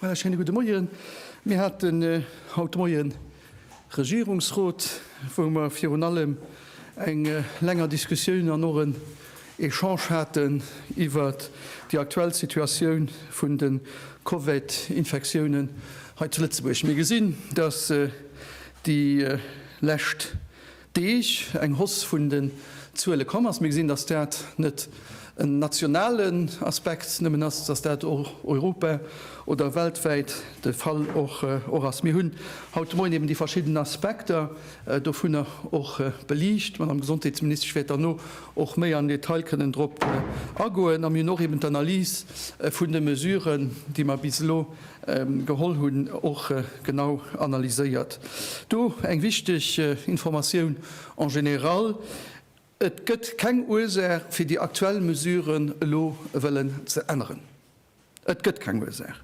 Voilà, schéine gudde Moien. Mir haten haut de Moien e Regierungsrot, wou mer virun allem eng länger Diskussioun an och en Echange haten iwwert déi aktuell Situatioun vun de Covid-Infektiounen hei zu Lëtzebuerg. Mir gesinn, dass déi lescht Deeg eng Hausse vun den Zuele komm ass. Mir gesinn, dass dat net en nationalen Aspekt nëmmen ass, dass dat europa oder weltwäit de Fall och ass. Mir hunn haut de Moien eben déi verschidden Aspekter dovunner och beliicht. D'Madame Gesondheetsministesch wäert derno och méi am Detail kënnen drop agoen. A mir hunn och eben d'Analys vun de Mesuren, déi mer bis elo Geholl hunn, och genau analyséiert. Do eng wichteg Informatioun en général, Et gëtt keng Ursaach, fir déi aktuell Mesuren elo wëllen ze änneren. Et gëtt keng Ursaach.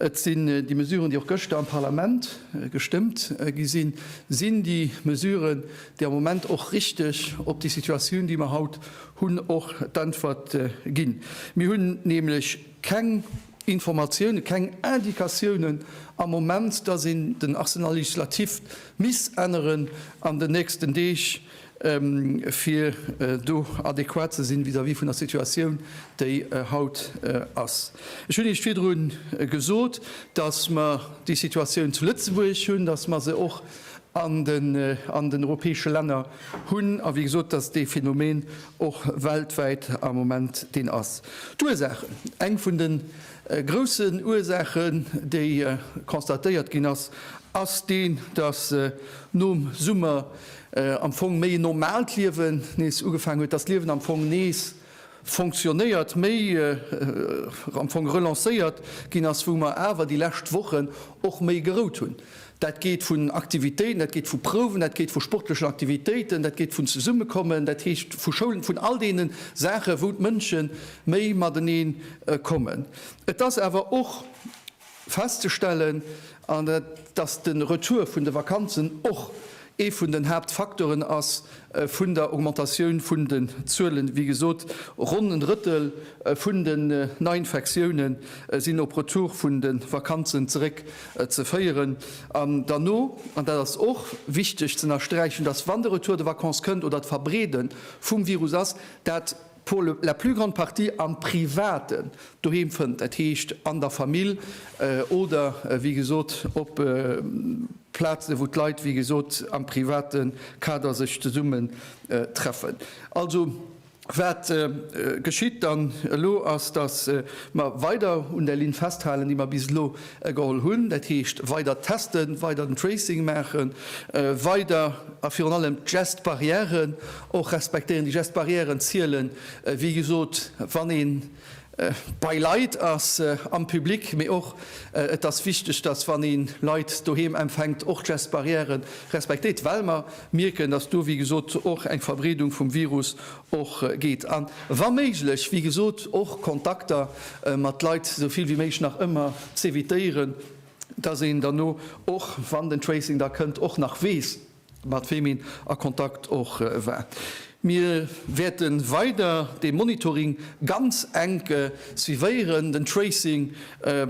Et sinn déi Mesuren, déi och gëschter am Parlament gestëmmt gi sinn, sinn déi Mesuren, déi am Moment och richteg op déi Situatioun, déi mer haut hunn, och d'Äntwert ginn. Mir hunn nämlech keng Informatiounen, keng Indikatiounen am Moment, dass een den Arsenal législatif misst änneren an den nächsten Deeg, fir do adequat ze sinn vis-à-vis vun der Situatioun, déi haut ass. Ech hunn Iech virdru gesot, dass mer déi Situatioun zu Lëtzebuerg hunn, dass mer se och an den europäesche Länner hunn, a wéi gesot, dass dee Phänomen och weltwäit am Moment deen ass. D'Ursaachen, eng vun de groussen Ursaachen, déi constatéiert ginn ass, ass déi, dass nom Summer am Fong méi en normaalt Liewen nees ugefaangen huet, dass d'Liewen am Fong nees, fonctionnéiert, méi am Fong relancéiert ginn ass, wou mer awer déi lescht Wochen och méi gerout hunn. Dat geet vun Aktivitéiten, dat geet vu Prouwen, dat geet vu sportlechen Aktivitéiten, dat geet vun Zesummekommen, dat heescht vu Schoulen, vun all deene Saachen, wou d'Mënsche méi matenee kommen. Et ass awer och festzestellen, an dass de Retour vun de Vakanzen och ee vun den Haaptfaktoren ass vun der Augmentatioun vun den Zuelen. Wéi gesot, ronn en Drëttel vun den Neiinfektioune sinn op Retour vun de Vakanzen zeréck ze féieren. An derno, an dat ass och wichteg z'ënnersträichen, dass, wann de Retour de vacances kënnt oder d'Verbreede vum Virus ass, dat, pour la plus grande partie am Privaten doheem fënnt, dat heescht an der Famill oder wéi gesot op Plazen, wou d'Leit wéi gesot am private Kader sech zesummen treffen. Also wat geschitt dann elo ass, datt mer weider un där Linn festhalen, déi mer bis elo geholl hunn, dat heescht weider testen, weider den Tracing maachen, weider a virun allem d'Gest barrièren Och respektéieren déi Gestes barrièren zielen, wéi gesot, wann ee bei Leit ass am Public, mee och et ass wichteg, dass wann ee Leit doheem empfänkt, och d'Gestes barrièren respektéiert, well mer mierken, dass do, wéi gesot, och eng Verbreedung vum Virus och geet an wa méiglech, wéi gesot, och Kontakter mat Leit esou vill wéi méiglech nach ëmmer z'evitéieren, dass een derno och, wann den Tracing da kënnt, och nach weess, mat weem een a Kontakt och war. Mir wäerte weider dee Monitoring ganz enk suivéieren. Den Tracing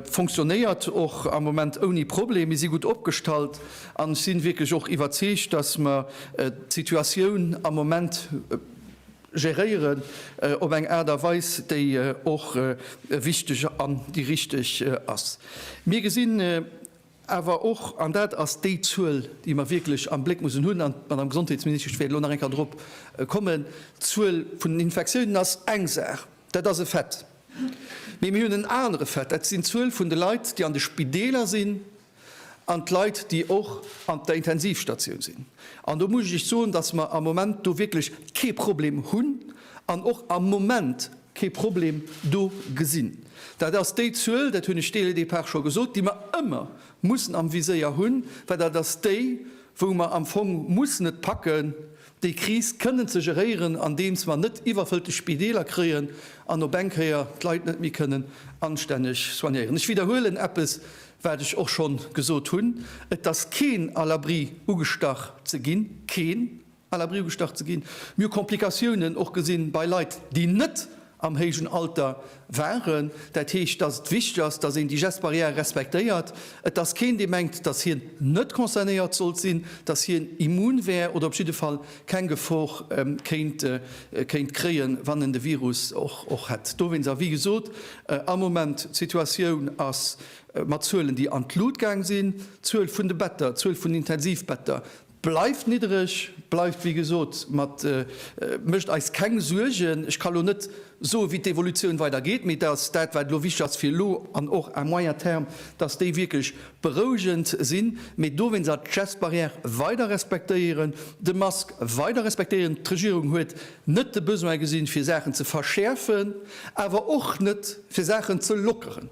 funktionéiert och am Moment ouni Problem. Mir si gutt opgestallt an ech si wierklech och iwwerzeegt, dass mer d'Situatioun am Moment geréieren op eng Aart a Weis, déi och wichteg an déi richteg ass. Mir gesinn, Awer och, an dat ass déi Zuel, déi mer wierklech am Bléck mussen hunn, an d'Madame Gesondheetsministesch wäert elo nach eng Kéier dorop kommen, d'Zuel vun den Infektiounen ass eng Saach, dat ass e Fait. Mee mir hunn en anere Fait, dat sinn d'Zuel vun de Leit, déi an de Spideeler sinn, an d'Leit, déi och an der Intensivstatioun sinn. An do muss ech Iech soen, dass mer am Moment do wierklech kee Problem hunn an och am Moment, kee Problem do gesinn. Dat ass déi Zuel, dat hunn ech dès le départ scho gesot, déi mer ëmmer mussen am Viséier hunn, well dat ass déi, wou mer am Fong mussen et packen, déi Kris kënnen ze geréieren, andeems mer net iwwerfëllte Spideeler kréien an op eng Kéier d'Leit net méi kënnen anstänneg soignéieren. Ech widderhuelen eppes, wat ech och schonn gesot hunn, Et ass keen à l'abri, ugestach ze ginn, keen! à la Brioude gestach ze ginn. Mir hu Komplikatiounen och gesinn bei Leit, déi net am héijen Alter waren. Dat heescht, dass et wichteg ass, dass een déi Gestes barrières respektéiert. Et ass keen, dee mengt, dass hien net concernéiert sollt sinn, dass hien immun wär oder op jidde Fall keng Gefor kéint kréien, wann en de Virus och hätt. Dowéinst, a wéi gesot, am Moment, d'Situatioun ass mat Zuelen, déi an d'Lut gaang sinn, d'Zuel vun de Better, d'Zuel vun Intensivbetter, Bleift niddereg, bleift wéi gesot, mat mécht eis keng Suergen. Ech ka lo net soe wéi d'Evolutioun weider geet, mee datt dat wat elo wichteg ass fir elo an och à moyen terme, datt déi wierklech berouegend sinn, mee dowéinst awer d'Gestbarrière weider respektéieren, de Mask weider respektéieren. D'Regierung huet net de Besoin gesinn, fir Saachen ze verschäerfen, awer och net fir Saachen ze lockeren.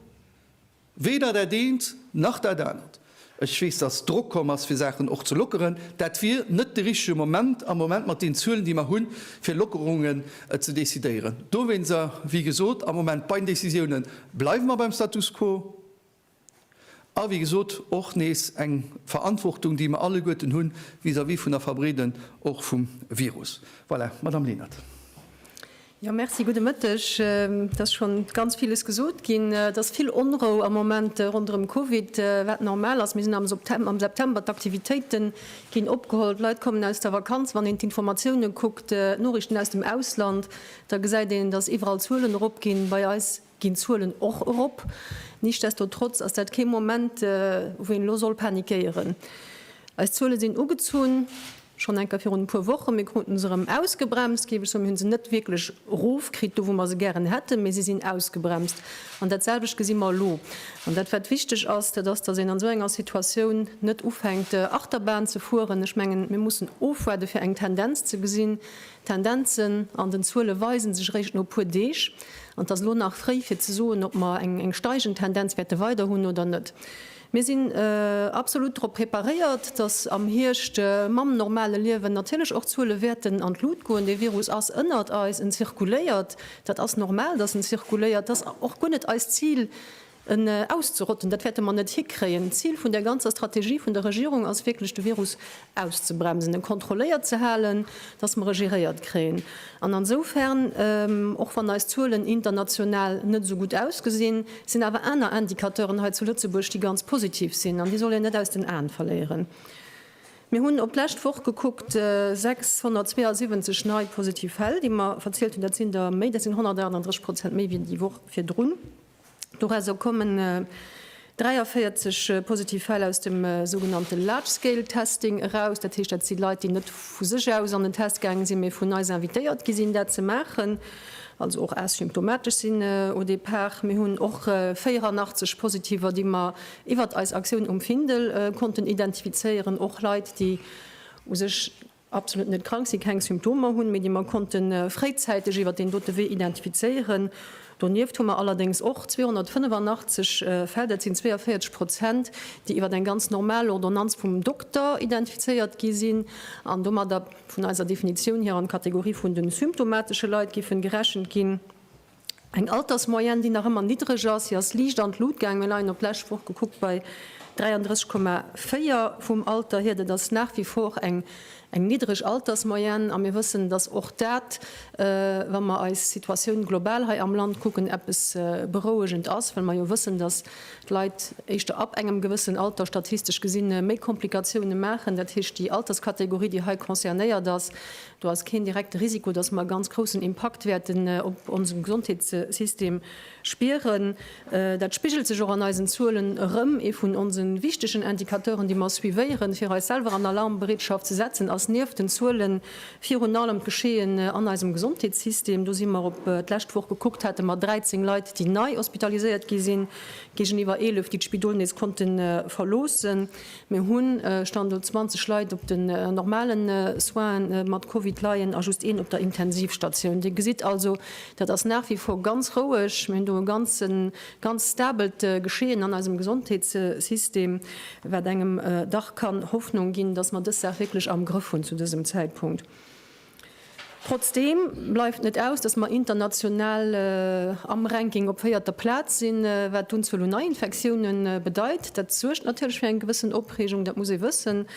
Weder dat eent nach dat anert. Ech weess, dass Drock komm ass, fir Saachen och ze lockeren. Dat wier net de richtege Moment am Moment mat den Zuelen, déi mer hunn, fir Lockerungen ze decidéieren. Dowéinster, wéi gesot, am Moment bei den Decisiounen bleiwe mer beim Status quo. A wéi gesot, och nees eng Verantwortung, déi mer alleguerten hu vis-à-vis vun der Verbreeden och vum Virus. Voilà, Madame Lenert. Jo, Merci, gudde Mëtteg. Et ass schonn ganz villes gesot ginn. Et ass vill Onrou am Moment ronderëm Covid, wat normal ass. Mir sinn am Septem am September, d'Aktivitéite ginn opgeholl, d'Leit kommen aus der Vakanz. Wann een d'Informatiounen kuckt, d'Noriichten aus dem Ausland, da gesäit een, dass iwwerall d'Zuelen eropginn. Bei eis Ginn d'Zuelen och erop. Nichtsdestotrotz ass dat kee Moment, wou een elo soll panikéieren. Eis Zuele sinn ugezunn, schonn enker virun e puer Wochen. Mir krute se erëm ausgebremst, géif ech soen. Mir hu se net wierklech erofkritt, do wou mer se gären hätten, mee se sinn ausgebremst. An dat selwecht gesi mer elo. An dat wat wichteg ass, dat ass, datt een an esou enger Situatioun net ufänkt Achterbahn ze fueren. Ech mengen, mir mussen ofwaarde fir eng Tendenz ze gesinn, D'Tendenzen an den Zuele weise sech eréischt no e puer Deeg, an et ass elo nach fréi fir ze soen, ob mer eng steigend Tendenz wäerte weider hunn oder net. Mir sinn absolut drop preparéiert, dass am Hierscht mam normale Liewen natierlech och d'Zuele wäerten an d'Lut goen. Dee Virus ass ënnert eis, en zirkuléiert, dat ass normal, dass en zirkuléiert. Et ass och guer net eist Zil, En auszerotten, dat wäerte mer net hikréien. D'Zil vun där ganzer Strategie vun der Regierung ass wierklech, de Virus auszebremsen, en kontrolléiert ze halen, datt mer e geréiert kréien. An ansoufern, och wann eis Zuelen international net esou gutt ausgesinn, sinn awer aner Indicateuren hei zu Lëtzebuerg, déi ganz positiv sinn. An déi soll een net aus den Aen verléieren. Mir hunn op d'lescht Woch gekuckt, 672 nei positiv Fäll, déi mer verzielt hunn, dat sinn der méi, dat sinn 138 Prozent méi wéi déi Woch virdrun. Dorausser kommen 43 positiv Fäll aus dem sougenannte Large-Scale Testing eraus. Dat heescht, dat si Leit, déi net vu sech aus an den Test gaange sinn, mee vun eis invitéiert gi sinn, dat ze maachen, also och asymptomatesch sinn au départ. Mir hunn och 84 Positiver, déi mer iwwert eis Aktioun um Findel konnten identifizéieren, och Leit, déi u sech absolut net krank sinn, keng Symptomer hunn, mee déi mer konnte fréizäiteg iwwert deen dote Wee identifizéieren. Donieft hu mer allerdéngs och 285 Fäll, dat sinn 42 Prozent, déi iwwert eng ganz normal Ordonnanz vum Dokter identifizéiert gi sinn an domadder vun eiser Definitioun hier an d'Kategorie vun de symptomatesche Leit géife gerechent ginn. Eng Altersmoyenne, déi nach ëmmer niddreg ass. Si ass liicht an d'Lut gaangen. Mir leien op d'lescht Woch gekuckt bei 33,4 vum Alter hier. Dat ass nach wie vor eng niddreg Altersmoyenne. A mir wëssen, dass och dat, wa mer eis Situatioun global hei am Land kucken, eppes berouegend ass, well mer jo wëssen, dass d'Leit éischter ab engem gewëssen Alter statistesch gesi méi Komplikatiounen maachen. Dat heescht, déi Alterskategorie, déi hei concernéiert ass, Do ass keen direkte Risiko, dass mer e ganz groussen Impakt wäerten op onsen Gesondheetssystem spieren. Dat spigelt sech och an eisen Zuelen erëm. Ee vun onse wichtegen Indicateuren, déi mer suivéieren, fir eis selwer an Alarmbereetschaft ze setzen, ass nieft den Zuelen virun allem d'Geschehen an eisem Gesondheetssystem. Do si mer, op d'lescht Woch gekuckt, hate mer 13 Leit, déi nei hospitaliséiert gi sinn, géigeniwwer 11, déi d'Spidol nees konnte verloossen. Mir hu Stand elo 20 Leit op den normale Soinen, déi mat Covid leien, a just een op der Intensivstatioun. Dir gesitt also, dat ass nach wie vor ganz roueg. Mir hunn do e ganz stabelt Geschehen an eisem Gesondheetssystem, wat engem dach kann Hoffnung ginn, dass mer dës Saach wierklech am Grëff hunn zu dësem Zäitpunkt. Trotzdeem bleift net aus, datt mer international am Ranking op véierter Plaz sinn, wat d'Unzuel un Neiinfektioune bedeit. Dat suergt natierlech fir eng gewëssen Opreegung, dat muss ee wëssen.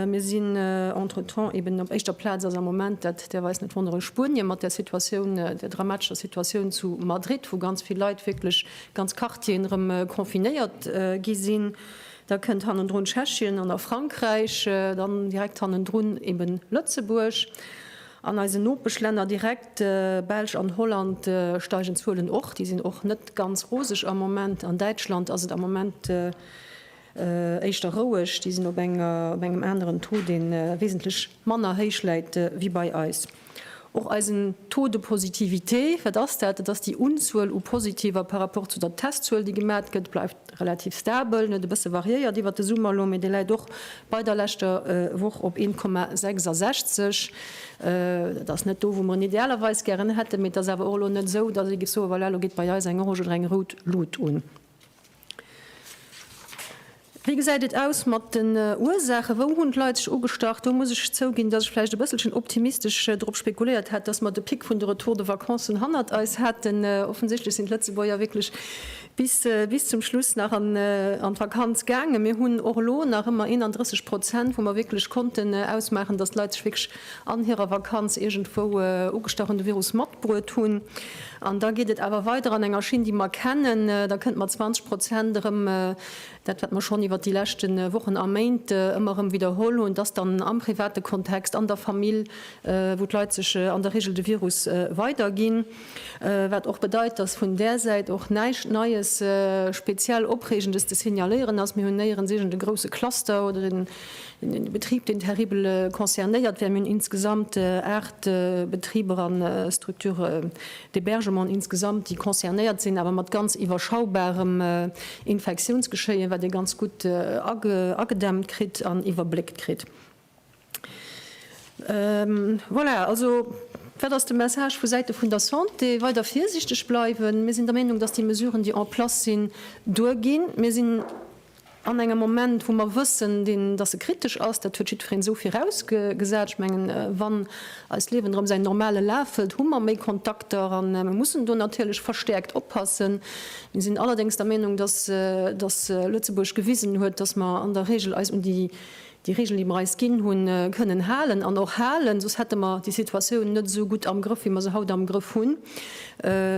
Mir sinn entretemps eben op éischter Plaz ass am Moment, dat däerf eis net wonneren, Spuenie mat der Situatioun, der dramatescher Situatioun zu Madrid, wou ganz vill Leit, wierklech ganz Quartieren erëm confinéiert gi sinn. Da kënnt hannendrun Tschechien an da Frankräich, dann direkt hannendrun eben Lëtzebuerg. An eisen Nopeschlänner direkt, Belsch an Holland, steigen d'Zuelen och. Déi sinn och net ganz roseg am Moment. An Däitschland ass et am Moment éischter roueg. Déi sinn op engem aneren Taux, dee wesentlech manner héich läit wéi bei eis. Och eisen Taux de positivité, wat ass dat? Dat ass déi Unzuel u Positiver par rapport zu der Testzuel, déi gemat gëtt, bleift relativ stabel, en huet e bësse variéiert iwwert de Summer elo, mee dee läit och bei der leschter Woch op 1,66. Dat ass net do, wou mer en idealerweis gären hätten, mee et ass awer och elo net esou, datt ee géif soen, voilà, elo geet bei eis eng orange oder eng rout Lut un. Wéi gesäit et aus mat den Ursaachen? Wou hunn d'Leit sech ugestach? Do muss ech zouginn, dass ech vläicht e bësselchen optimistesch drop spekuléiert hat, dass mer de Pic vun de Retour de vacancen hannert eis haten. Offensichtlech sinn d'Lëtzebuerger wierklech bis zum Schluss nach an d'Vakanz gaangen. Mir hunn och elo nach ëmmer 31 Prozent, wou mer wierklech konnten ausmaachen, dass d'Leit sech wierklech an hirer Vakanz iergendwou ugestach hunn, de Virus matbruet hunn. An da geet et awer weider an enger Schinn, déi mer kennen. Da kënnt mat 20 Prozent erëm dat, wat mer schonn iwwert déi leschte Wochen a Méint ëmmer erëm widderholl hunn, dass dann am private Kontext, an der Famill, wou d'Leit sech an der Regel de Virus weiderginn. Wat och bedeit, dass vun där Säit och näischt Neies, speziell Opreegendes ze signaléieren ass. Mir hunn néierens iergend e grousse Cluster oder en Den Betrib deen terribel concernéiert wär, mir hunn insgesamt 8 Betriber a Structures d'hébergement insgesamt déi concernéiert sinn, awer mat ganz iwwerschaubarem Infektiounsgeschéien, wat ee ganz gutt agedämmt kritt an iwwerbléckt kritt. Voilà, also wat ass de Message vu Säite vun der Santé? Weider virsiichteg bleiwen. Mir sinn der Meenung, datt déi Mesuren déi en place sinn duerginn. Mir sinn. An engem Moment, wou mer wëssen, deen, dass e kritesch ass, dat huet jiddwereen esou virausgesat, ech mengen, wann eist Liewen erëm säin normale Laf hëlt, hu mer méi Kontakter a mer mussen do natierlech verstäerkt oppassen. Mir sinn allerdéngs der Meenung, dass Lëtzebuerg gewisen huet, dass mer an der Regel eis un déi déi Regeln, déi mer eis ginn hunn, kënnen halen an och halen, soss hätte mer déi Situatioun net esou gutt am Grëff, wéi mer se haut am Grëff hunn.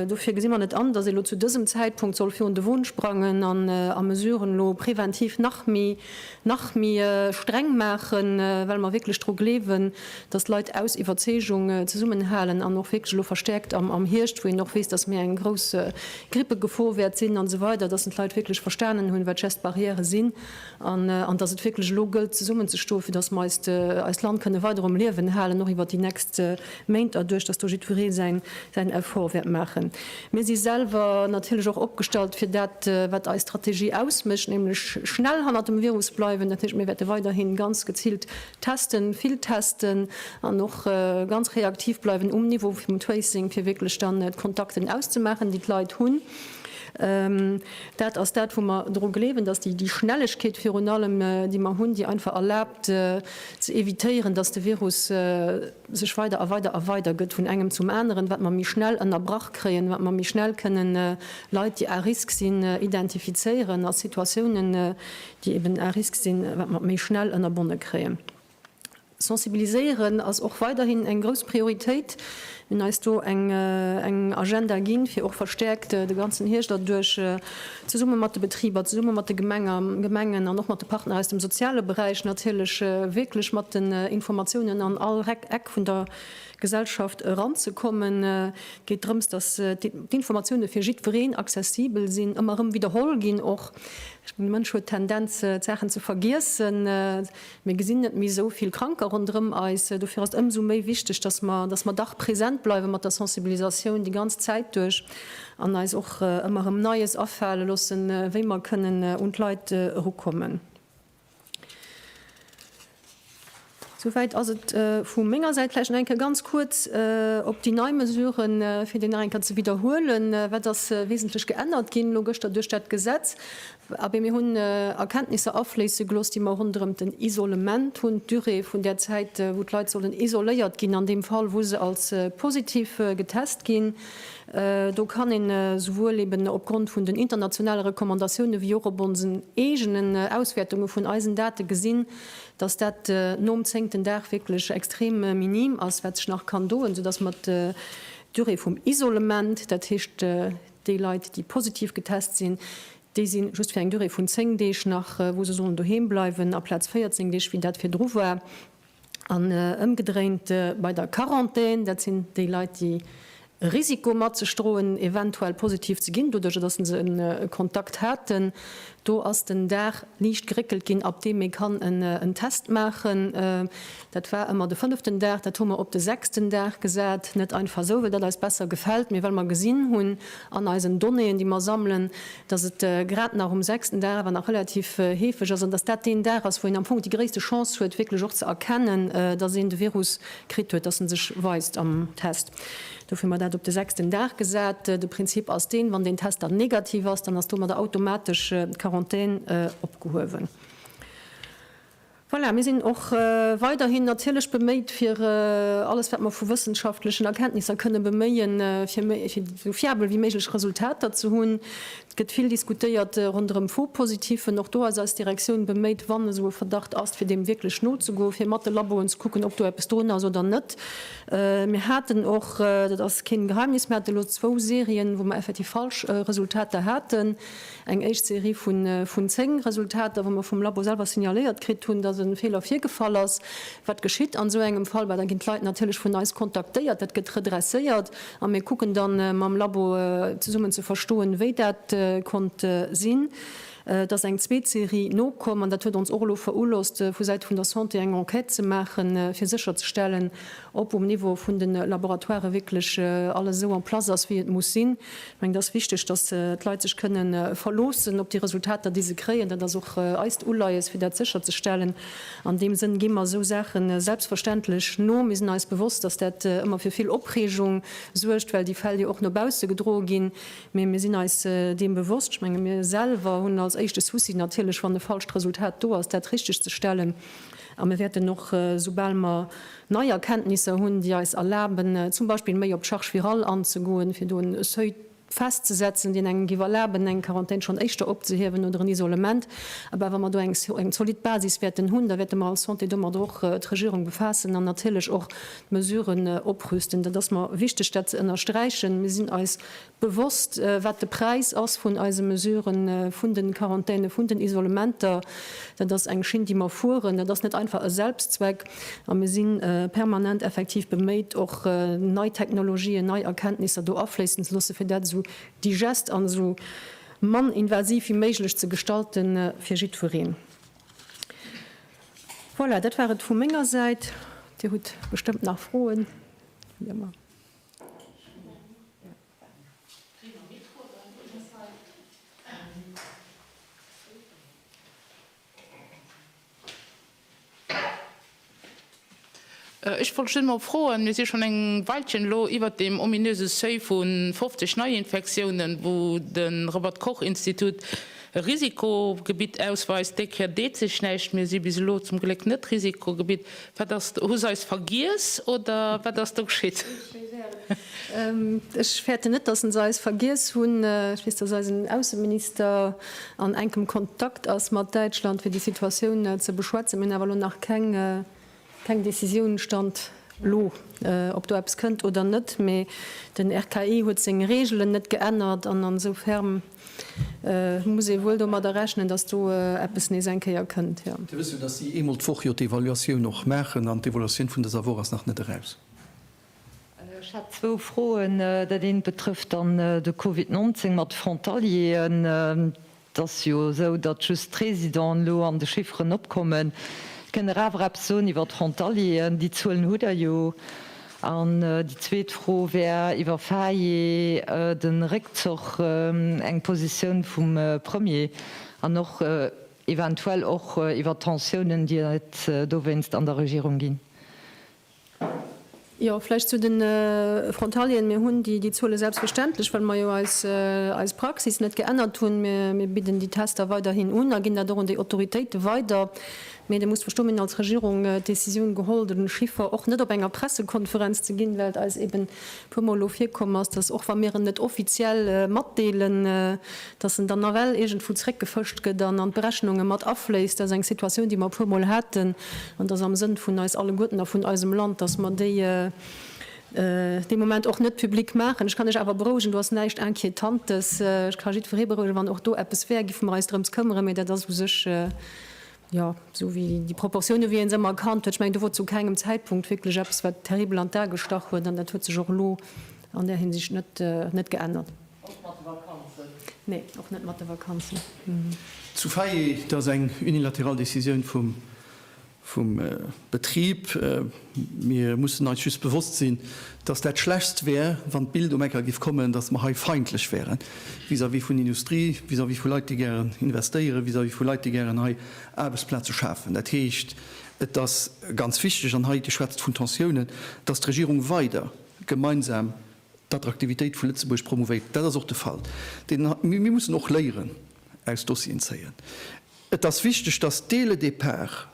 Dofir gesi mer net an, dass ee lo zu dësem Zäitpunkt soll virun de Won sprangen an a Mesuren elo präventiv nach méi, nach méi streng maachen, well mer wierklech dru gleewen, dass d'Leit aus Iwwerzeegung zesummenhalen an och wierklech elo verstäerkt am, am Hierscht, wou een och weess, dass méi eng grouss Grippegefor wäert sinn, an esou weider, dass d'Leit wierklech verstanen hunn, wat d'Geste barrière sinn. an dass et wierklech elo gëllt zesummenzestoen, fir dass mer eist Land kënne weider um Liewen halen, och iwwert déi nächst Méint erduerch, dass do jiddweree säin Effort wäert maachen. Mir si selwer natierlech och opgestallt fir dat, wat eis Strategie ausmécht, nämlech schnell hannert dem Virus bleiwen. Dat heescht, mir wäerte weiderhi ganz geziilt testen, vill testen an och ganz reaktiv bleiwen um Niveau vum Tracing, fir wierklech dann d'Kontakten auszemaachen, déi d'Leit hunn. Dat ass dat, wou mer dru gleewen, dass déi Schnellegkeet virun allem, déi mer hunn, déi einfach erlaabt ze évitéieren, dass de Virus sech weider a weider a weider gëtt vun engem zum aneren, wat mer méi schnell ënnerbrach kréien, wat mer méi schnell kënne Leit, déi à risque sinn, identifizéieren a Situatiounen, déi eben à risque sinn, wat mer méi schnell ënnerbonne kréien. Sensibiliséieren ass och weiderhin eng grouss Prioritéit. Mir hunn eis do eng Agenda ginn, fir och verstäerkt de ganzen Hierscht erduerch zesumme mat de Betriber, zesumme mat de Gemengen an och mat de Partner aus dem soziale Beräich natierlech wierklech mat den Informatiounen an all Eck vun der Gesellschaft eranzekommen. Et geet drëms, datt d'Informatiounen fir jiddwereen accessibel sinn, ëmmer erëm widderholl ginn och. De Mënsch huet d'Tendenz d'Saachen ze vergiessen. Mir gesinn net méi esou vill Kranker ronderëm eis. Dofir ass et ëmsou méi wichteg, dass mer, dass mer dach präsent bleiwe mat der Sensibilisatioun déi ganz Zäit duerch an eis och ëmmer erëm Neies afale loossen, wéi mer kënnen un d'Leit erukommen. Souwäit ass et vu menger Säit. Vläicht nach eng Kéier ganz kuerz op déi nei Mesuren, fir déi nach eng Kéier ze widderhuelen, Wat ass wesentlech geännert ginn elo gëschter duerch dat Gesetz? Abee, mir hunn Erkenntnisser afléisse gelooss, déi mer ronderëm den Isolement hunn, d'Durée vun där Zäit, wou d'Leit sollen isoléiert ginn, an deem Fall, wou se als positiv getest ginn. Do kann een souwuel eeben opgrond vun den internationale Recommandatioune wéi och op onsen eegenen Auswäertunge vun eisen Date gesinn, dass dat nom zéngten Dag wierklech extrem minim ass, wat sech nach kann doen, soudass mer d'Durée vum Isolement, dat heescht, Déi Leit, déi positiv getest sinn, déi si just fir eng Durée vun 10 Deeg nach, wou se sollen doheem bleiwen, aplaz 14 Deeg, wéi dat virdru war. An ëmgedréint bei der Quarantän, dat sinn déi Leit, déi e Risiko mat sech droen, eventuell positiv ze ginn, doduerch datt se e Kontakt haten. Do ass den Dag liicht geréckelt ginn, ab deem ee kann en Test maachen. Dat war ëmmer de fënneften Dag, dat hu mer op de sechsten Dag gesat, net einfach esou, well dat eis besser gefält, mee well mer gesinn hunn an eisen Donnéeën, déi mer sammelen, dass et grad nach um sechsten Dag awer nach relativ heefeg ass an dass dat deen Dag ass, wou een am Fong déi gréisste Chance huet, wierklech och ze erkennen, dass een de Virus kritt huet, dass en sech weist am Test. Dofir hu mer dat op de sechsten Dag gesat. De Prinzip ass deen, wann deen Test dann negativ ass, dann ass domadder automatesch d'Quarantän opgehuewen. Voilà, mir sinn och weiderhin natierlech beméit, fir alles, wat mer vu wëssenschaftlechen Erkenntnisser kënnen beméien, fir esou fiabel wéi méiglech Resultater ze hunn. Et gëtt vill diskutéiert ronderëm Faux-Positifen. Och do ass eis Direktioun beméit, wann esou e Verdacht ass, fir deem wierklech nozegoen, fir mat de Laboen ze kucken, ob do eppes drun ass oder net. Mir haten och, dat ass keen Geheimnis, mir haten elo zwou Serien, wou mer effektiv falsch Resultater haten. Eng éischt Serie vun 10 Resultater, wou mer vum Labo selwer signaléiert kritt hunn, dass e Feeler virgefall ass. Wat geschitt an esou engem Fall? Bah, da ginn d'Leit natierlech vun eis kontaktéiert, dat gëtt redresséiert a mir kucken da mam Labo zesummen ze verstoen, wéi dat konnt sinn. Et ass eng zweet Serie nokomm an dat huet ons och elo verohlosst, vu Säite vun der Santé eng Enquête ze maachen, fir sécherzestellen, ob um Niveau vun de Laboratoiren wierklech alles esou en place ass, wéi et muss sinn. Ech mengen, et ass wichteg, dass d'Leit sech kënne verloossen op déi Resultater, déi se kréien. Dat ass och eist Uleies, fir dat sécherzestellen. An deem Sënn gi mer esou Saache selbstverständlech no. Mir sinn eis bewosst, dass dat ëmmer fir vill Opreegung suergt, well déi Fäll jo och no bausse gedroe ginn. Mee mir sinn eis deem bewosst. Ech menge mir selwer hunn als éischte Souci natierlech, wann e falscht Resultat do ass, dat richteg ze stellen. A mir wäerten och, soubal mer nei Erkenntnisser hunn, déi eis erlaben, zum Beispill méi op d'Charge virale anzegoen, fir do en Seuil festzesetzen, deen engem giff erlaben, eng Quarantän schonn éischter opzehiewen oder en Isolement, awer wa mer do eng zolidd Basis wäerten hunn, da wäerte mer als Santé domadder och d'Regierung befaassen an natierlech och d'Mesuren oprüsten. Dat ass mer wichteg, dat ze ënnersträichen. Mir sinn eis Bewosst, wat de Präis ass vun eise Mesuren, vun den Quarantänen, vun den Isolementer. Dat ass eng Schinn, déi mer fueren. Dat ass net einfach e Selbstzweck. A mir si permanent effektiv beméit, och nei Technologien, nei Erkenntnisser do afléissen ze loossen, fir dat esou digest an esou mann invasiv wéi méiglech ze gestalten fir jiddwereen. Voilà, dat war et vu menger Säit. Dir hutt bestëmmt nach Froen, wéi ëmmer. Ech wollt just mol froen, mir si schonn eng Weilchen elo iwwert deem ominöse Seuil vu 50 Neiinfektiounen, wou de Robert-Koch-Institut e Risikogebitt ausweist, dee kritt deet sech näischt, mir si bis elo zum Gléck net Risikogebitt. Wat ass, hu se eis vergiess oder wat ass do geschitt? Ech fäerten net, datt se eis vergiess hunn. Ech weess, datt eisen Ausseminister an enkem Kontakt ass mat Däitschland, fir déi Situatioun ze beschwätzen. Mir hunn awer elo nach keng Keng Decisioun stand elo, ob do eppes kënnt oder net, mee den RKI huet seng Reegelen net geännert an ensoufern muss ee wuel domadder rechnen, datt do eppes nees eng Kéier kënnt. Dir wësst jo, datt si eemol d'Woch jo d'Evaluatioun och maachen an d'Evaluatioun vun dëser Woch ass nach net eraus. Ech hätt zwou Froen. Dat eent betrëfft dann de Covid 19 mat de Frontalieren. Et ass jo esou, datt just d'Résidenten elo an de Chifferen opkommen. Kënnt Der awer eppes soen iwwer d'Frontalieren? Déi Zuelen hutt Der jo. An déi zweet Fro wär iwwer Faye, de Réckzoch, eng Positioun vum Premier an och eventuell och iwwer d'Tensiounen, déi et dowéinst an der Regierung ginn. Jo, vläicht zu de Frontalieren. Mir hunn déi Zuele selbstverständlech, well mer jo eis Praxis net geännert hunn. Mir bidden déi Tester weiderhin un a ginn dat och un déi Autoritéite weider. Mee Dir musst verstoen, mir hunn als Regierung d'Decisioun geholl, den Chiffer och net op enger Pressekonferenz ze ginn, well et eis eeben puer Mol elo virkomm ass, dass och wa mir en net offiziell matdeelen, dass en dann nawell iergendwou zréckgefëscht gëtt an an d'Berechnunge mat afléisst. Dat ass eng Situatioun, déi mer e puermol haten an dass am Sënn vun eis alleguerten a vun eisem Land, dass mer déi dee Moment och net public maachen. Ech kann Iech awer berouegen, do ass näischt Inquietantes. Ech ka jiddweree berouegen, wann och do eppes wär, giffe mer eis drëms këmmere, mee dat ass u sech Jo, esou wéi déi Proportiounen, wéi ee se ëmmer erkannt huet. Ech mengen, do wor zu kengem Zäitpunkt wierklech eppes, wat terribel an d'A gestach huet. An dat huet sech och elo an där Hinsicht net geännert. Och mat de Vakanzen? Nee, och net mat de Vakanzen. Zu Veianen, dat ass eng unilateral Decisioun vum. Betrib. Mir mussen eis just bewosst sinn, dass dat Schlechtst wär, wann d'Bild um Ecker giff kommen, dass mer hei feindlech wären vis-à-vis vun Industrie, vis-à-vis vu Leit, déi gären investéieren, vis-à-vis vu Leit, déi gären hei Aarbechtsplaze schafen. Dat heescht, et ass ganz wichteg, an hei geschwätzt vun Tensiounen, dass d'Regierung weider gemeinsam d'Attraktivitéit vu Lëtzebuerg promouvéiert. Dat ass och de Fall. Mir mussen och Léieren aus Dossieren zéien. Et ass wichteg, dass dès le départ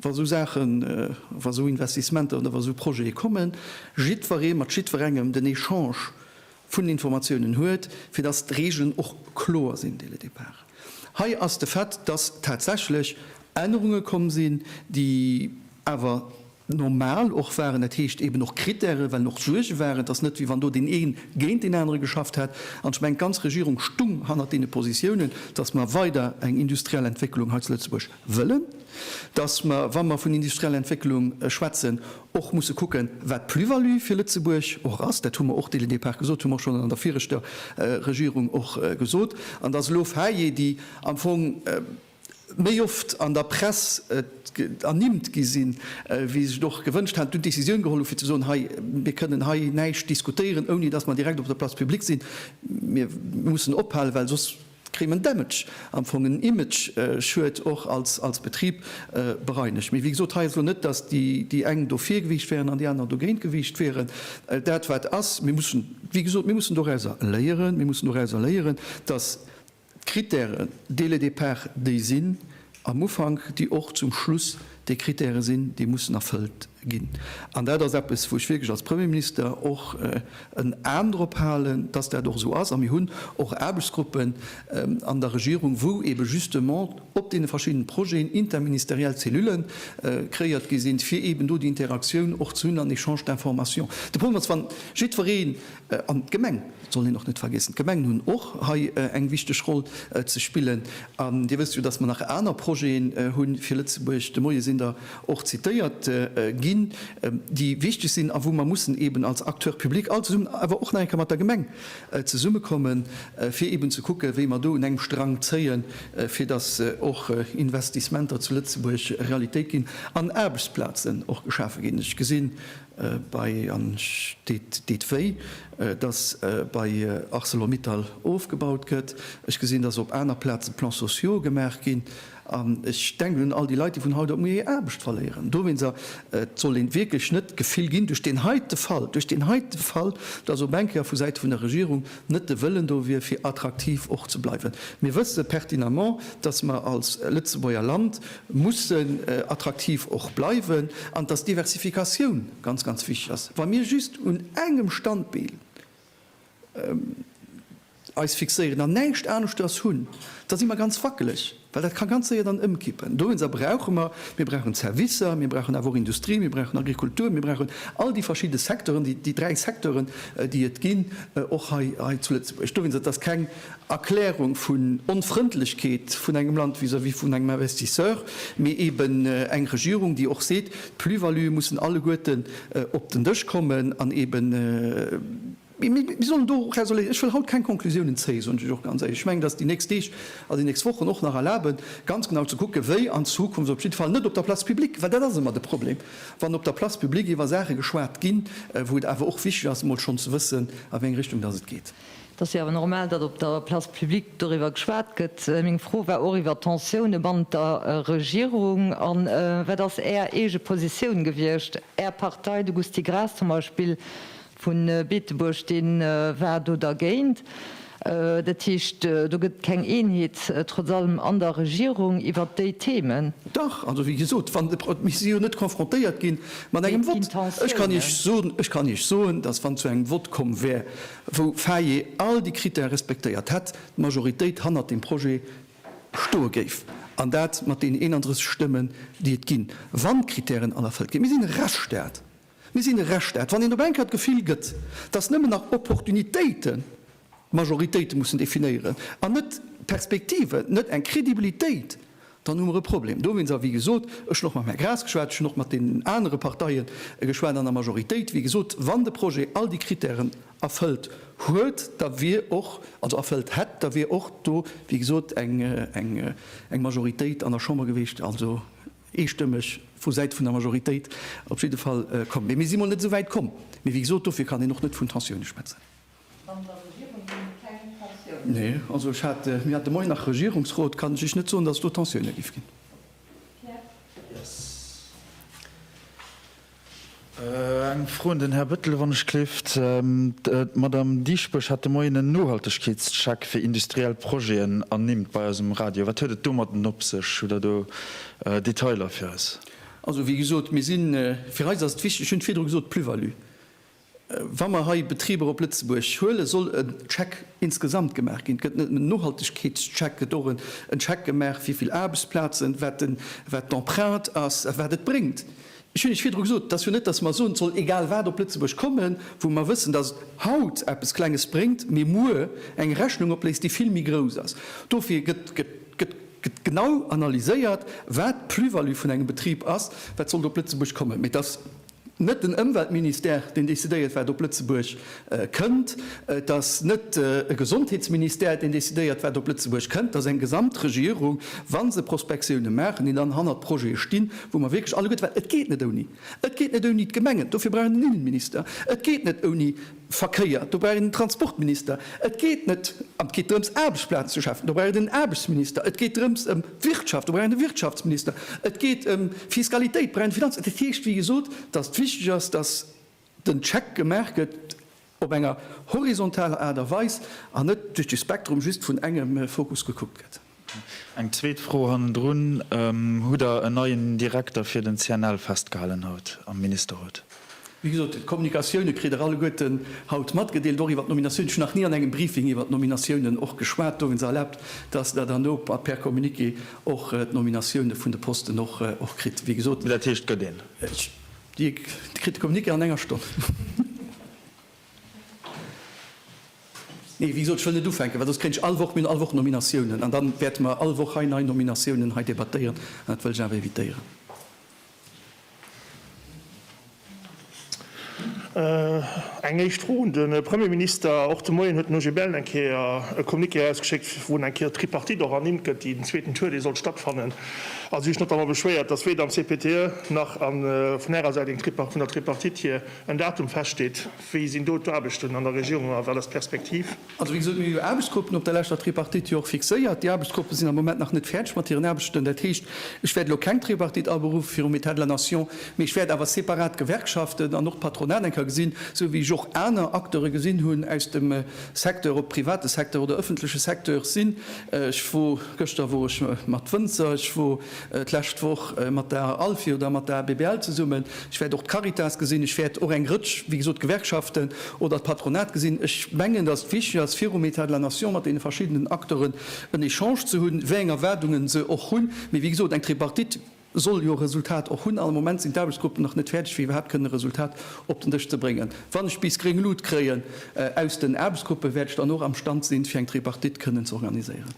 wa esou Saachen, wa esou Investissementer oder wa esou Projete kommen, jiddweree mat jiddwerengem den Echange vun Informatiounen huet, fir datt d'Regeln och kloer sinn dès le départ. Hei ass de Fait, datt tatsächlech Ännerunge komm sinn, déi awer normal och waren, dat heescht eeben och Kritäre, well och Suerge waren. Et ass net, wéi wann do deen ee géint deen anere geschafft hätt. An ech mengen, d'ganz Regierung stung hannert deene Positiounen, datt mer weider eng industriell Entwécklung hei zu Lëtzebuerg wëllen, dass mer, wa mer vun industrieller Entwécklung schwätzen, och musse kucken, wat d'Plus-value fir Lëtzebuerg och ass. Dat hu mer och dès le départ gesot, hu mer och schonn an der viregter Regierung och gesot. An dass elo Faiten, déi am Fong méi oft an der Press ernimmt gi sinn, wéi se sech och gewënscht haten, do d'Décisioun geholl hu fir ze soen, hei, mir kënnen hei näischt diskutéieren, ouni dass mer direkt op der Place publique sinn. Mir mussen ophalen, well soss kritt en Damage, am Fong en Imageschued och als Betrib bereinegt. Mee wéi gesot, hei ass elo net, dass déi eng do vir gewiicht wären an déi aner dogéint gewiicht wieren. Dat wat ass, mir mussen, wéi gesot, mir mussen dorauser léieren, mir mussen dorauser léieren, dass d'Critèren dès le départ déi sinn am Ufank, déi och zum Schluss déi Critèrë sinn, déi mussen erfëllt. ginn. An dat ass eppes, wou ech wierklech als Premierminister och en Aen drop halen, dass dat och esou ass. A mir hunn och Aarbechtsgruppen an der Regierung, wou eebe justement op deene verschiddene Projeten interministeriell Zellule kreéiert gi sinn, fir eeben do déi Interaktioun och ze hunn an Echange d'informations. De Problem ass, wann jiddweree An d'Gemeng soll een och net vergiessen. D'Gemengen hunn och hei eng wichteg Roll ze spillen. An Dir wësst jo, datt mer nach aner Projeten hu fir Lëtzebuerg. De Moie sinn der och zitéiert ginn, déi wichteg sinn a wou mer mussen eeben als Acteur public all zesummen, awer och nach eng Kéier mat der Gemeng zesummekommen, fir eeben ze kucken, wéi mer do un engem Strang zéien, fir datt och Investissementer zu Lëtzebuerg Realitéit ginn an Aarbechtsplazen och geschafe ginn. Ech gesinn, Bei an ech deet deet wéi, dass bei Arcelor-Mittal ofgebaut gëtt. Ech gesinn, dass op aner Plaze Plans sociaux gemaach ginn. An ech denken un all déi Leit, déi vun haut op muer hir Aarbecht verléieren. Dowéinst a et soll een wierklech net d'Gefill ginn, duerch deen heite Fall, duerch deen heite Fall, dass op eng Kéier vu Säite vun der Regierung net de Wëllen do wier, fir attraktiv och ze bleiwen. Mir wësse pertinemment, dass mer als Lëtzebuerger Land mussen attraktiv och bleiwen an dass d'Diversifikatioun ganz, ganz wichtig ass. Wa mir just un engem Standbeen eis fixéieren an näischt aneschters hunn, da si mer ganz wackeleg, well dat ka ganz séier dann ëmkippen. Dowéinster brauche mer, mir brauchen d'Servicer, mir brauchen awer och Industrie, mir brauchen Agrikultur, mir brauchen all déi verschidde Secteuren, déi dräi Secteuren, déi et ginn, och hei zu Lëtzebuerg. Dowéinst, et ass keng. Erklärung vun Onfrëndlechkeet vun engem Land vis-à-vis vun engem Investisseur, mee eben eng Regierung, déi och seet, d'Plus-valuë mussen alleguerten op den Dësch kommen an eben, mir sollen do raisonnabel, ech wëll haut keng Konklusiounen zéien, soen ech och ganz éierlech. Ech mengen, dass déi nächst Deeg a déi nächst Wochen och nach erlaben, ganz genau ze kucken, wéi an Zukunft, op jidde Fall net op der Place publique, well dat ass ëmmer de Problem, wann op der Place publique iwwer Saache geschwat ginn, wou et awer och wichteg ass, emol schonn ze wëssen, a wéi eng Richtung dass et geet. Et ass jo awer normal, datt op der Place publique doriwwer geschwat gëtt. Meng Fro war och iwwer d'Tensioune bannent der Regierung. A wat ass Är eege Positioun gewiescht? Är Partei, de Gusty Graas zum Beispill vu Beetebuerg, dee war do dergéint. Dat heescht, do gëtt et keng Eenheet trotz allem an der Regierung iwwer déi Themen. Dach, also wéi gesot, wann, mir si jo net konfrontéiert gi mat engem Vott. Ech kann Iech soen, datt wann et zu engem Vott komm wär, wou Faye all déi Critèrë respektéiert hätt, d'Majoritéit hannert deem Projet stoe géif, an dat mat deenen 31 Stëmmen, déi et ginn, wann d'Critèren all erfëllt ginn. Mir sinn e Rechtsstaat. Mir sinn e Rechtsstaat. Wann een op eng Kéier d'Gefill gëtt, dass nëmmen nach Opportunitéiten d'Majoritéite mussen definéieren an net d'Perspektiven, net eng Credibilitéit Dann hu mer e Problem dowéinst. A wéi gesot, ech hunn och mam Här Graas geschwat, ech hunn och mat deenen anere Parteie geschwat an der Majoritéit, wéi gesot, wann de Projet all déi Krittären erfëllt huet, da wier och, also erfëllt hätt, da wier och do, wéi gesot, eng Majoritéit an der Chamber gewiescht, also eestëmmeg vu Säite vun der Majoritéit op jidde Fall komm. Mee mir si mol net esou wäit komm. Mee wéi gesot, dofir kann een och net vun Tensioune schwätzen. An der Regierung ginn et keng Tensiounen? Nee, also ech hat, mir hat de Moien nach Regierungsrot, kann ech lech net soen, datt et do Tensiounen géif ginn. Pierre. Eng Fro un den Här Bettel, wann ech gleeft. D'Madame Dieschbourg hat de Moien en Nohaltegkeetscheck fir industriell Projeten ernimmt bei eis um Radio. Wat huet et domatten op sech? Hutt Der do Detailer fir eis? Also wéi gesot, mir si, fir eis ass et wichteg, ech hunn et virdru gesot, d'Plus-value. Wa mer hei Betriber op Lëtzebuerg huelen, soll en Check insgesamt gemaach ginn. Et gëtt net nëmmen en Nohaltegkeetscheck, et gëtt och en Check gemaach, wéi vill Aarbechtsplazen, wat d'Empreinte ass a wat et bréngt. Ech hunn Iech virdru gesot, et ass jo net, dass mer soen, et soll egal wat op Lëtzebuerg kommen, wou mer wëssen, dass et haut eppes Klenges bréngt, mee muer eng Rechnung opléist, déi vill méi grouss ass. Dofir gëtt genau analyséiert, wat d'Plus-value vun engem Betrib ass, wat sollt op Lëtzebuerg kommen. Mee et ass net den Ëmweltministère deen decidéiert wat op Lëtzebuerg kënnt, et ass net e Gesondheetsministère deen decidéiert wat op Lëtzebuerg kënnt, et ass eng Gesamtregierung, wa se Prospektioune maachen, déi dann hannert Projete stinn, wou mer wierklech alleguerte, well et geet net ouni, et geet net ouni d'Gemengen, dofir brauch een den Innenminister, et geet net ouni Verkéier, do brauch een en Transportminister. Et geet net an et geet drëms Aarbechtsplazen ze schafen, do brauch een en Aarbechtsminister. Et geet drëms ëm d'Wirtschaft, do brauch een e Wirtschaftsminister. Et geet ëm Fiskalitéit, do brauch een e Finanz. Dat heescht, wéi gesot, datt et wichteg ass, datt den Check gemaach gëtt op enger horizontaler Aart a Weis an net duerch de Spektrum just vun engem Fokus gekuckt gëtt. Eng zweet Fro hannendrun, Hutt Der en neien Direkter fir den CNL festgehalen haut am Ministerrot? Wéi gesot, d'Kommunikatioune kritt Der alleguerten haut matgedeelt, och iwwer d'Nominatioun. Ech hunn nach ni an engem Briefing iwwer d'Nominatiounen och geschwat. Do hunn se erlaabt, dass Der dann no per Communiqué och d'Nominatioune vun de Posten och kritt. Wéi gesot. Mee dat heescht, et gëtt een. Dir kritt de Communiqué an enger Stonn. Nee, wéi gesot, ech wëll net ufänken, well soss kréien ech all Woch, mir hunn all Woch Nominatiounen an da wäerte mer all Woch hei nei Nominatiounen hei debattéieren an dat wëll ech awer evitéieren. Eng éischt Fro un de Premierminister. Och de Moien huet den OGBL eng Kéier e Communiqué erausgeschéckt, wou eng Kéier d'Tripartite och ernimmt gëtt, déi den zweeten Tour, dee sollt stattfannen. A si hu sech notamment beschwéiert, datt weder am CPTE nach vun Ärer Säit vun der Tripartite hier en Datum feststeet? Wéi sinn do d'Aarbechten an der Regierung a wat ass d'Perspektiv? Also, wéi gesot, mir hu jo Aarbechtsgruppen op der leschter Tripartite jo och fixéiert. Déi Aarbechtsgruppe sinn am Moment nach net fäerdeg mat hiren Aarbechten. Dat heescht, ech wäert elo keng Tripartite aberuffen virum État de la Nation, mee ech wäert awer separat d'Gewerkschaften an och d'Patronat eng Kéier gesinn, esou wéi ech och aner Acteure gesinn hunn aus dem Secteur, ob private Secteur oder ëffentleche Secteur sinn. Ech wor, gëschter wor ech mat Wënzer, ech wor d'lescht Woch mat der ALFI oder mat der ABBL zesummen, ech wäert och d'Caritas gesinn, ech wäert och eng Rëtsch, wéi gesot, Gewerkschaften oder d'Patronat gesinn. Ech mengen, datt et wichteg ass, virum État de la Nation mat deene verschiddenen Acteuren en Echange ze hunn, wéi eng Erwaardungen se och hunn. Mee wéi gesot, eng Tripartite soll jo e Resultat och hunn an am Moment sinn d'Aarbechtsgruppen nach net fäerdeg, fir iwwerhaapt kënnen e Resultat op den Dësch ze bréngen. Wann ech bis gréng Lut kréien aus den Aarbechtsgruppen, wäert ech dann och am Stand sinn, fir eng Tripartite kënnen ze organiséieren.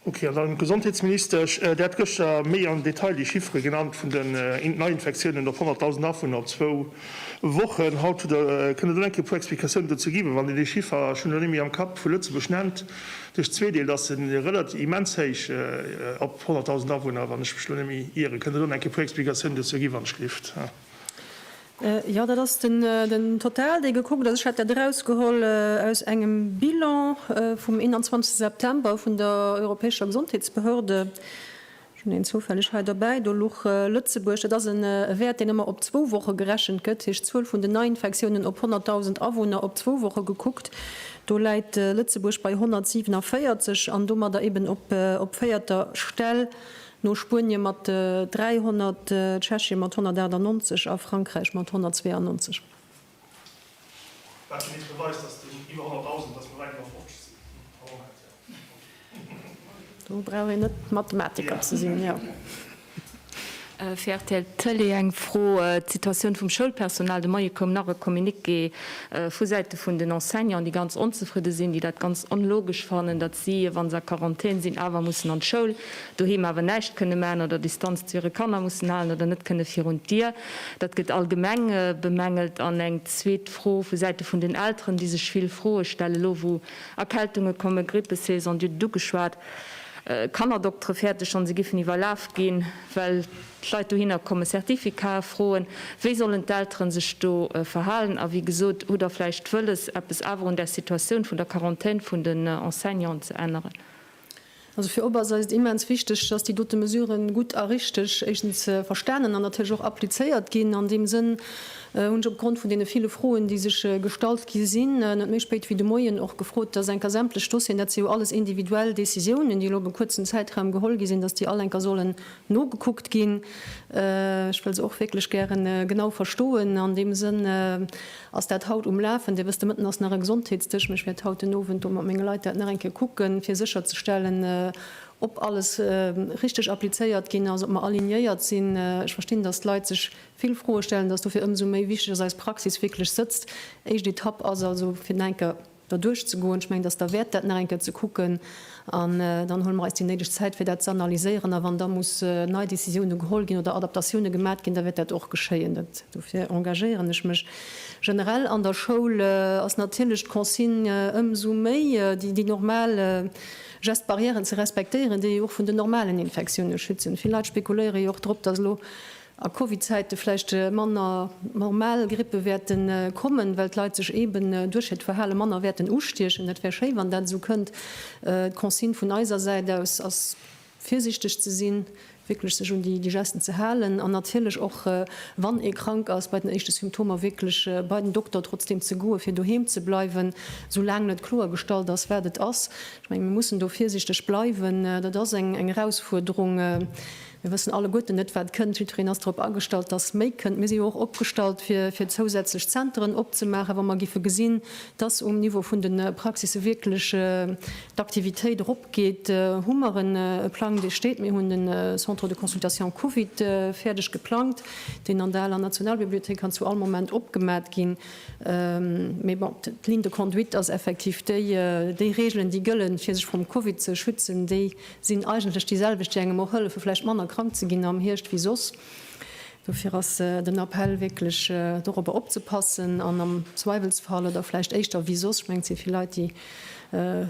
Ok, an dann, Gesondheetsminister, Ech, Dir hat gëschter méi am Detail déi Chiffere genannt vun den Neiinfektiounen op 100.000 Awunner op zwou Wochen. Haut hutt Der, kënnt Der do eng Kéier e puer Explikatiounen dozou gi? Well wann Dir dee Chiffer, ech hunn en elo net méi am Kapp, vu Lëtzebuerg nennt, duerch zwee deelt, ass en relativ immens héich op 100.000 Awunner, wann ech mech elo net méi ieren. Kënnt Der do eng Kéier e puer Explikatiounen dozou gi, wann ech lift? Jo, dat ass den Total, dee gekuckt ass. Ech hat dat erausgeholl aus engem Bilan vum 21 September vun der europäescher Gesondheetsbehörde. Ech hunn en zoufälleg hei derbäi, do luch Lëtzebuerg. Dat ass e Wäert, deen ëmmer op zwou Woche gerechent gëtt, heescht d'Zuel vun den Neiinfektiounen op 100.000 Awunner op zwou Woche gekuckt. Do läit Lëtzebuerg bei 147 an domadder eeben op véierter Stell No Spuenien mat 300, Tschechien mat 198 a Frankräich mat 192. Wat fir eent beweist, dass den iwwer 100.000, dass mer wäit iwwer 50 sinn? A Moment, jo. Do brauch een net Mathematiker ze sinn, jo. Fir rtl Tëlee eng Fro, d'Situatioun vum Schoulpersonal, de Moie koum nach e Communiqué vu Säite vun den Enseignanten, déi ganz onzefridde sinn, déi dat ganz onlogesch fannen, datt si, wa se a Quarantän sinn, awer mussen an d'Schoul. doheem awer näischt kënne maachen oder Distanz zu hire Kanner mussen halen oder net kënne virun d'Dier. Dat gëtt allgemeng bemängelt. An eng zweet Fro vu Säite vun den Elteren, déi sech vill Froe stellen, elo wou Erkältunge kommen, Grippesaison, Dir hutt et ugeschwat, Kannerdokteren fäerte schonn, se giffen iwwerlaf ginn, well d'Leit dohinner kommen, Certificaten froen. Wéi sollen d'Elteren sech do verhalen? A wéi gesot, hutt Der vläicht wëlles, eppes awer un där Situatioun vun der Quarantaine vun den Enseignanten ze änneren? Also fir op ass eis et immens wichteg, dass déi dote Mesuren gutt a richteg éischtens verstanen an natierlech och applizéiert ginn. An deem Sënn hunn ech opgrond vun deene ville Froen, déi sech gestallt gi sinn, net méi spéit wéi de Moien och gefrot, dass enker sämtlech Dossieren, dat si jo alles individuell Décisiounen, déi elo op e kuerzen Zäitraum geholl gi sinn, dass déi all enker sollen nogekuckt ginn. Ech wëll se och wierklech gäre genau verstoen an deem Sënn. Ass dat haut um Lafen? Dee wësst, de Mëtten ass nach e Gesondheetsdësch, mä ech wäert haut den Owend do mat menge Leit dat nach eng Kéier kucken, fir sécherzestellen, ob alles richtig applizéiert ginn ass, ob mer alignéiert sinn. Ech verstinn, dass d'Leit sech vill Froe stellen, dass dofir ëmsou méi wichtig ass, dass eis Praxis wierklech sëtzt. Éischt Etapp ass also fir den Henker, da duerchzegoen. Ech mengen, dass et derwäert dat nach eng Kéier ze kucken an dann huele mer eis déi néideg Zäit, fir dat ze analyséieren. A wann da muss nei Décisioune geholl ginn oder Adaptatioune gemat ginn, da wäert dat och geschéien. Dat, dofir engagéieren ech mech generell. An der Schoul ass natierlech d'Consigne ëmsou méi, déi, déi normal Gestes barrièren ze respektéieren, déi jo och vun den normalen Infektioune schützen. Vill Leit spekuléiere jo och drop, dass elo a Covid-Zäite vläicht manner normal Grippe wäerte kommen, well d'Leit sech eeben duerch hiert Verhale manner wäerten ustiechen. Dat wär schéi, wann dat esou kënnt. D'Consigne vun eiser Säit aus ass, virsiichteg ze sinn, wierklech sech un déi Gesten ze halen an natierlech och, wann ee krank ass, bei den éischte Symptomer wierklech bei den Dokter trotzdeem ze goen, fir doheem ze bleiwen, soulaang net kloergestallt ass, wat et ass. Ech menge mir mussen do virsiichteg bleiwen. Dat ass eng Erausfuerderung. Mir wëssen alleguerten net, wat kënnt. Jiddwereen ass drop agestallt, dass méi kënnt. Mir si jo och opgestallt, fir, fir zousätzlech Zenteren opzemaachen, wa mer géife gesinn, dass um Niveau vun de Praxisse wierklech d'Aktivitéit eropgeet. Hu mer e Plang, dee steet. Mir hunn de Centre de consultation Covid fäerdeg geplangt, deen an der aler Nationalbibliothéik kann zu all Moment opgemat ginn. Mee bon, d'Ligne de conduite ass effektiv déi, déi Regeln, déi gëllen, fir sech vrum Covid ze schützen, déi Sinn eigentlech déi selwecht, déi engem och hëllefe vläicht manner krank ze ginn am Hierscht wéi soss. Dofir ass den Appell wierklech dorobber opzepassen an am Zweiwelsfall oder vläicht éischter wéi soss, ech mengen et si vill Leit déi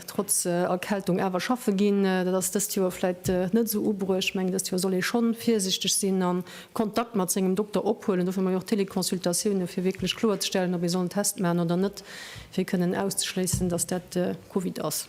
trotz Erkältung awer schaffe ginn, dat ass dëst Joer vläicht net esou ubruecht, ech mengen dëst Joer soll ee schonn virsichteg sinn a Kontakt mat sengem Dokter ophuelen. Dofir hu mer jo och Teleconsultatiounen, fir wierklech kloerzestellen ob ee soll en Test maachen oder net, fir kënnen auszeschléissen, datt dat Covid ass.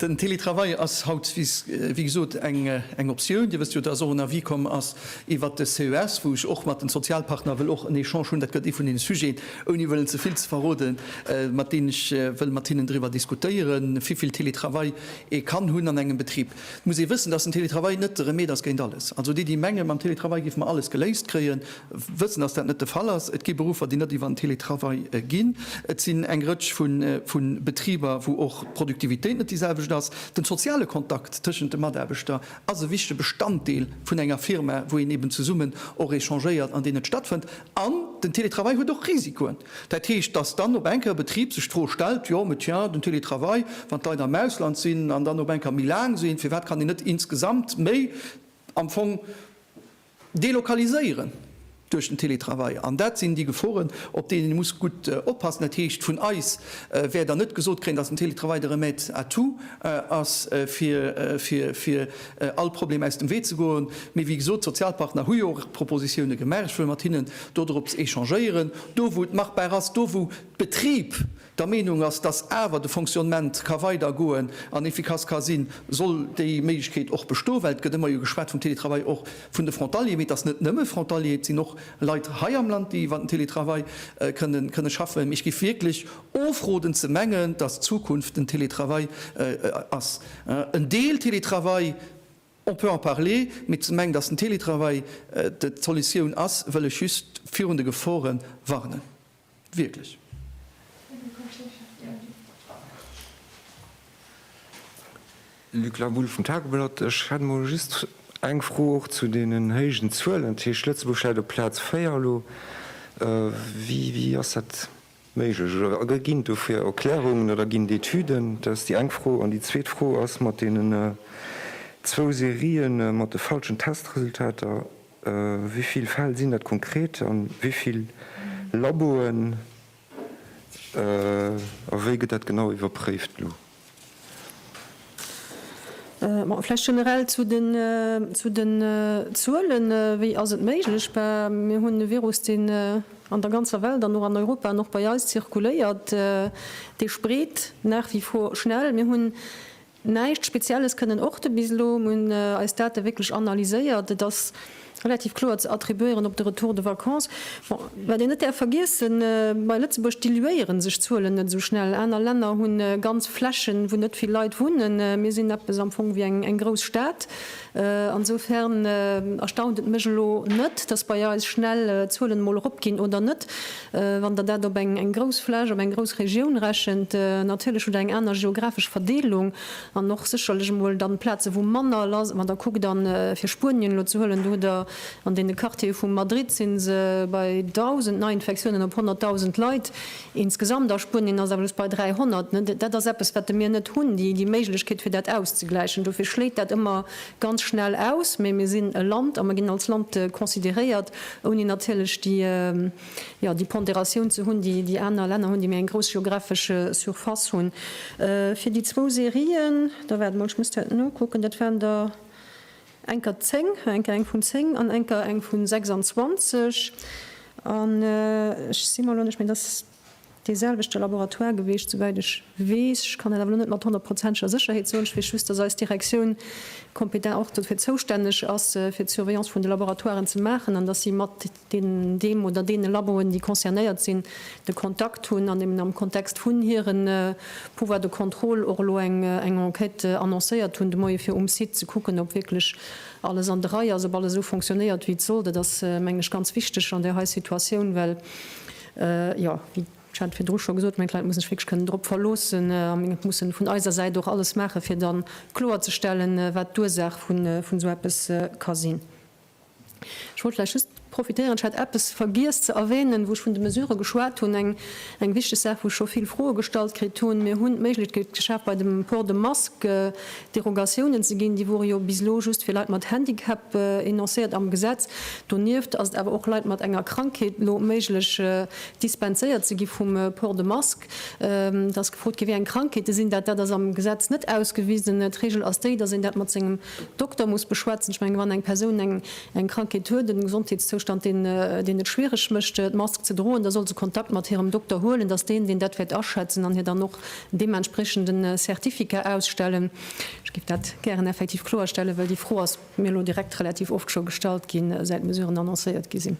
Den Teletravail ass haut, wéi gesot, eng Optioun. Dir wësst jo, dass och en Avis komm ass iwwert de CES, wou ech och mat den Sozialpartner wëll och en Echange hunn. Dat gëtt ee vun deene Sujeten, ouni wëllen ze vill ze verroden, mat deenen ech wëll mat hinnen driwwer diskutéieren, wivill Teletravail ee kann hunn an engem Betrib. Et muss ee wëssen, dass den Teletravail net de Remed ass géint alles. Also déi, déi mengen, mam Teletravail géife mer alles geléist kréien, wëssen, dass dat net de Fall ass. Et gi Beruffer, déi net iwwer den Télétravail ginn. Et sinn eng Rëtsch vu Betriber, wou och d'Produktivitéit net déi selwecht ass. Den soziale Kontakt tëschent de Mataarbechter ass e wichtege Bestanddeel vun enger Firma, wou een eben zesummen och échangéiert an deen et stattfënnt. An den Télétravail huet och Risikoen. Dat heescht, dass dann op eng Kéier e Betrib sech d'Fro stellt, jo, mais tiens, den Télétravail, wann d'Leit am Ausland sinn an dann op eng Kéier méi laang sinn, firwat kann een net insgesamt méi am Fong, Delokaliséieren duerch den Télétravail, an dat sinn déi Geforen, op déi een muss gutt oppassen. Dat heescht, vun eis wäert Der net gesot kréien, datt den Télétravail de Remède à tout ass, fir all Problem aus dem Wee ze goen. Mee wéi gesot, d'Sozialpartner hu jo och Propositioune gemaach. Ech wëll mat hinnen dodrop echangéieren, do wou et machbar ass, do wou d'Betrib der Meenung ass, dass awer de Fonctionnement ka weider goen an efficace ka sinn, soll déi Méiglechkeet och bestoen, well et gëtt ëmmer jo geschwat vum Télétravail och vun de Frontalieren, mee et ass net nëmme Frontalier, et sinn och Leit hei am Land, déi iwwer den Télétravail kënne schaffen. Mee ech géif wierklech ofroden ze mengen, dass d'Zukunft den Télétravail ass. En Deel Télétravail, on peut en parler, mee ze mengen, dass den Télétravail d'Solutioun ass, wëll ech just virun de Gefore warnen. Wierklech. Luc Laboul vum Tageblatt, Ech hätt emol just eng Fro och zu deenen héijen Zuelen. Dat heescht Lëtzebuerg läit op Plaz 4 elo. Wéi ass dat méiglech? Oder ginn et dofir Erklärungen oder ginn et Etüden? Dat ass déi eng Fro. An déi zweet Fro ass mat deenen zwou Serien mat de falschen Testresultater. Wéi vill Fäll sinn dat konkret a wéi vill Laboen a wéi gëtt dat genau iwwerpréift elo? Bon, vläicht generell zu den Zuelen, wéi ass et méiglech? Mir hunn e Virus, deen an der ganzer Welt an och an Europa an och bei eis zirkuléiert, dee spreet nach wie vor schnell. Mir hunn Näischt Spezielles kënnen och de bis elo. Mir hunn eis Date wierklech analyséiert. Et ass relativ kloer ze attribuéieren op de Retour de vacances. Bon, wat een net däerf vergiessen, bei Lëtzebuerg diluéiere sech d'Zuelen net esou schnell. Aner Länner hu ganz Flächen, wou net vill Leit wunnen. Mir sinn eppes am Fong wéi eng grouss Stad. Ansofern erstaunt et mech elo net, dass bei eis schnell d'Zuelen emol eropginn oder net. Wann Der dat op eng grouss Fläch, op eng grouss Regioun rechent, natierlech hutt Der eng aner geographesch Verdeelung an och sécherlech emol dann Plaze wou manner lass. Wann Der kuckt, a fir Spuenien elo ze huelen, do hutt Der an deene Quartiere vu Madrid si se bei 1.000 Neiinfektiounen op 100.000 Leit. Insgesamt, a Spuenien ass awer just bei 300, dat ass eppes, wat de mir net hunn, déi Méiglechkeet, fir dat auszegläichen. Dofir schléit dat ëmmer ganz schnell aus. Mee mir sinn e Land a mir ginn als Land consideréiert, ouni natierlech déi Pondératioun ze hunn, déi aner Länner hunn, déi méi eng grouss geographesch Surface hunn. Fir déi zwou Serien, da waart emol, ech muss dat nokucken, dat waren der Enker 10, enker eng vun 10 an enker eng vun 26. An ech si mer elo net, mee et ass dee selwechte Laboratoire gewiescht, souwäit ech weess. Ech kann dat awer elo net mat honnertprozenteger Sécherheet soen. Ech weess just, dass eis Direktioun kompetent och dofir zoustänneg ass, fir d'Surveillance vun de Laboratoiren ze maachen an dass si mat deen, deem oder deene Laboen, déi concernéiert sinn, de Kontakt hunn an eben am Kontext vun hire Pouvoir de contrôle och elo eng Enquête annoncéiert hunn de Moie fir um Site ze kucken, ob wierklech alles an de Rei ass, ob alles esou fonctionnéiert, wéi et soll. Dat ass, mengen ech, ganz wichteg an där hei Situatioun, well, jo, wéi, ech hat et virdru scho gesot, meng, d'Leit mussen sech wierklech kënnen drop verloossen a meng et mussen vun eiser Säit och alles maachen, fir dann kloerzestellen, wat d'Ursaach vun esou eppes ka sinn. Ech wollt vläicht just profitéieren, ech hat eppes vergiess ze erwänen, wou ech vun de Mesurë geschwat hunn, eng, eng wichteg Saach, wou ech scho vill Froe gestallt kritt hunn. Mir hunn d'Méiglechkeet geschaf, bei dem Port de Masque Derogatiounen ze ginn. Déi wore jo bis elo just fir Leit mat Handicap enoncéiert am Gesetz. Donieft ass et awer och Leit mat enger Krankheet elo méiglech, dispenséiert ze gi vum Port de Masque. Et ass gefrot ginn, wéi eng Krankheete sinn dat. Dat ass am Gesetz net ausgewisen. D'Regel ass déi, dass een dat mat sengem Dokter muss beschwätzen. Ech mengen, wann eng Persoun eng Krankheet huet, en Gesondheetszoustand, deen et schwiereg mécht, d'Mask ze droen, da soll se Kontakt mat hirem Dokter huelen. Dass deen, deen dat wäert aschätzen an hir dann och en deementspriechende Certificat ausstellen. Ech géif dat gären effektiv kloerstellen, well déi Fro ass mir elo direkt relativ oft scho gestallt ginn, säit d'Mesuren annoncéiert gi sinn.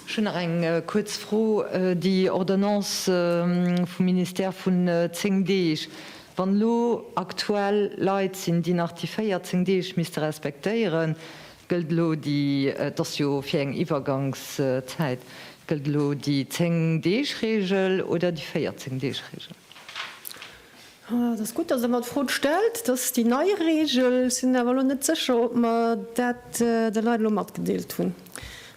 Ech hunn nach eng kuerz Fro. Déi Ordonnance vum Ministère vun 10 Deeg, wann elo aktuell Leit sinn, déi nach déi 14 Deeg misste respektéieren, gëllt elo déi, et ass jo fir eng Iwwergangszäit, gëllt elo déi 10 Deeg Reegel oder déi 14 Deeg Reegel? Et ass gutt, dass Der mer d'Fro stellt. Dat ass déi nei Regel. Ech sinn awer elo net sécher, ob mer dat de Leit elo matgedeelt hunn.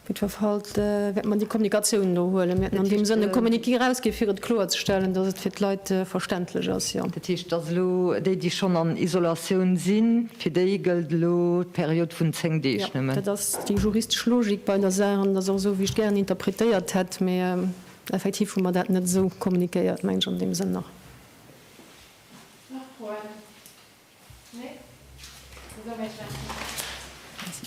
Op jiddwer Fall wäerte mer déi Kommunikatioun elo huelen. Mir hätten an deem Sënn e Communiqué erausgi fir et kloerzestellen, dass et fir d'Leit verständlech ass. Jo. Dat heescht, dass elo déi, déi schonn an Isolatioun sinn, fir déi gëllt elo d'Period vun zéng Deeg nëmmen? Jo, dat ass déi juristesch Logik bei der Saach. An et ass och esou, wéi ech gären interpretéiert hätt. Mee Effektiv hu mer dat net esou kommuniquéiert, mengen ech, an deem Sënn nach. Nach Froen? Nee? Da soe mir Merci.